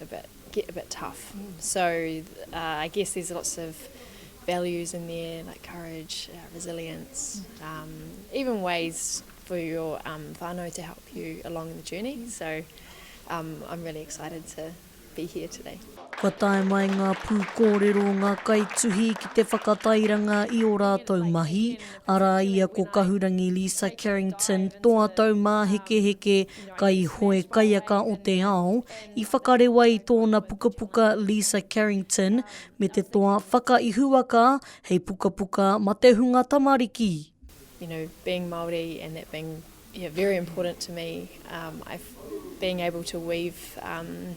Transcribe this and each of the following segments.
a bit, get a bit tough. So uh, I guess there's lots of values in there like courage, uh, resilience, um, even ways for your um, whānau to help you along the journey. So um, I'm really excited to be here today. Kua tae mai ngā pū kōrero o ngā kaituhi ki te whakatairanga i o rātou mahi, arā ia ko Kahurangi Lisa Carrington, toa taumāhekeheke, kaihoe kaiaka o te ao, i whakarewa i tōna pukapuka Lisa Carrington me te toa Whakaihuwaka hei pukapuka ma te hunga tamariki. you know, being Māori and that being yeah, very important to me, um, I, being able to weave um,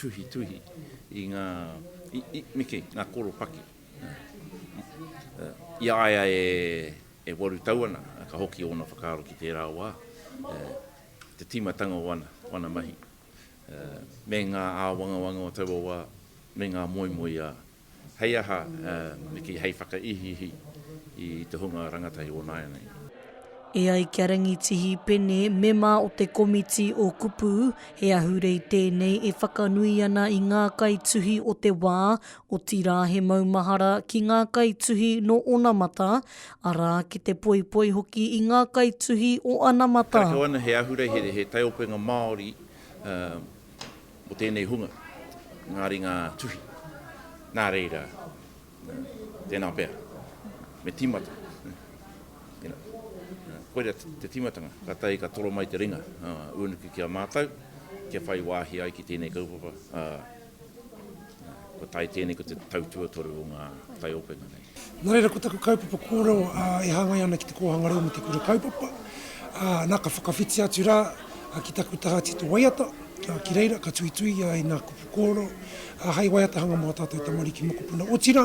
tuhituhi i ngā, i, me kī, ngā koropaki. I a ia e, e waru tau ana, ka hoki ōna whakaaro ki tērā wā, te tīmatanga o ana, o ana mahi. Me ngā āwangawanga o taua wā, me ngā moemoeā Hei aha, me kī, hei whakaihiihi i te hunga rangatahi o nāianei. E ai ki a Rangitihi Pene, mema o te komiti o Kupu, he ahurei tēnei e whakanui ana i ngā kaituhi o te wā, otirā he maumahara ki ngā kaituhi nō onamata, arā, ki te poipoi hoki i ngā kaituhi o anamata. Karekau ana he ahurei, he taiopenga Māori mō tēnei hunga, ngā ringa tuhi. Nā reira, tēnā pea, me tīmata. Tēnā. Koira te tīmatanga, ka tahi ka toro mai te ringa uh, unuki ki a mātou, kia whai wāhi ai ki tēnei kaupapa. Uh, ko tai tēnei ko te tautuatoru o ngā taiopenga nei. Nā reira ko taku kaupapa kōrero e hāngai ana ki te kōhanga reo me te kura kaupapa, nā ka whakawhiti atu rā ki taku taha tito waiata, ki reira ka tuitui i ngā kupu kōrero hai waiatahanga mō ā tātou tamariki mokopuna, otirā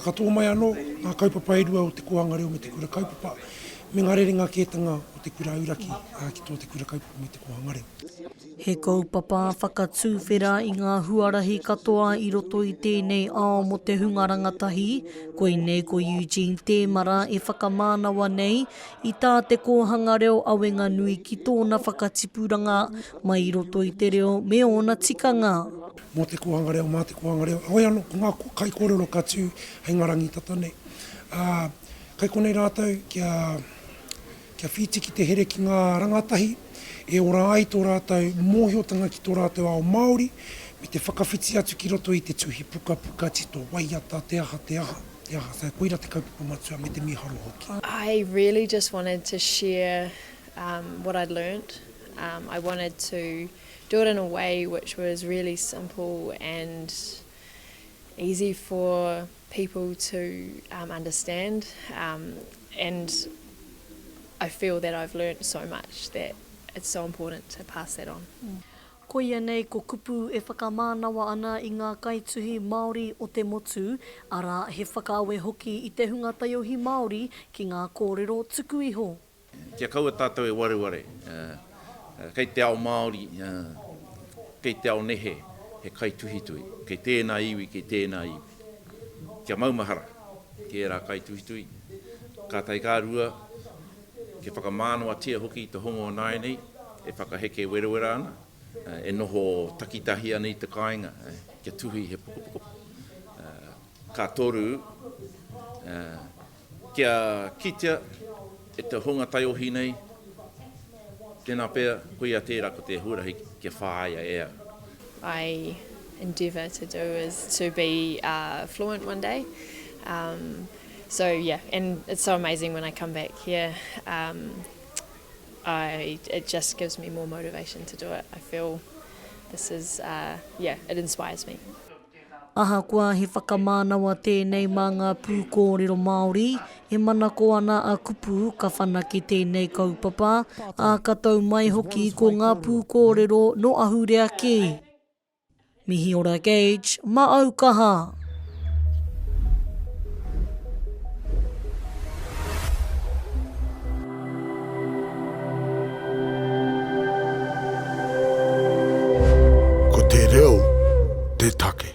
ka tō mai anō ngā kaupapa e rua o te kōhanga reo me te kura kaupapa me ngā rerenga kētanga o te kura auraki ki tō te kura kaupapa me te kōhanga reo. He kaupapa whakatūwhera i ngā huarahi katoa i roto i tēnei ao mō te hunga rangatahi, koinei ko Eugene Tēmara e whakamānawa nei i tā te kōhanga reo awenga nui ki tōna whakatipuranga mai i roto i te reo me ōna tikanga. Mō te kōhanga reo, mā te kōhanga reo, heoi anō, ko ngā kaikōrero ka tū hei ngā rangi tata nei. Ā, kai konei rātou kia kia whiti ki te here ki ngā rangatahi e ora ai tō rātou mōhiotanga ki tō rātou ao Māori, me te whakawhiti atu ki roto i te tuhi pukapuka tito, waiata, te aha, te aha, te aha, so koira te kaupapa matua me te mīharo hoki. I really just wanted to share what I'd learnt, I wanted to do it in a way which was really simple and easy for. people to understand and I feel that I've learnt so much that it's so important to pass that on. Koia nei ko kupu e whakamānawa ana i ngā kaituhi Māori o te motu, arā, he whakaawe hoki i te hunga taiohi Māori ki ngā kōrero tuku iho. Kia kaua tātou e wareware, kei te ao Māori, kei te ao nehe he kaituhituhi, kei tēnā iwi, kei tēnā iwi. Kia maumahara ki ērā kaituhituhi, ka tae ka rua, kia whakamānawatia hoki te hongo o nāianei e whakaheke werawera ana, e noho takitahi ana i te kāinga kia tuhi he pukapuka. Ka toru, Kia kitea e te hunga taiohi nei, tēnā pea, koia tērā ko te huarahi kia whāia e au. I endeavour to do is to be fluent one day so yeah and it's so amazing when I come back here I it just gives me more motivation to do it I feel this is yeah it inspires me. Ahakoa he whakamānawa tēnei mā ngā pūkōrero Māori, e manako ana a Kupu ka whanake tēnei kaupapa, ā, ka tau mai hoki ko ngā pūkōrero nō ahurea kē. Mihi ora Gage, ma au kaha! Ko te reo te take.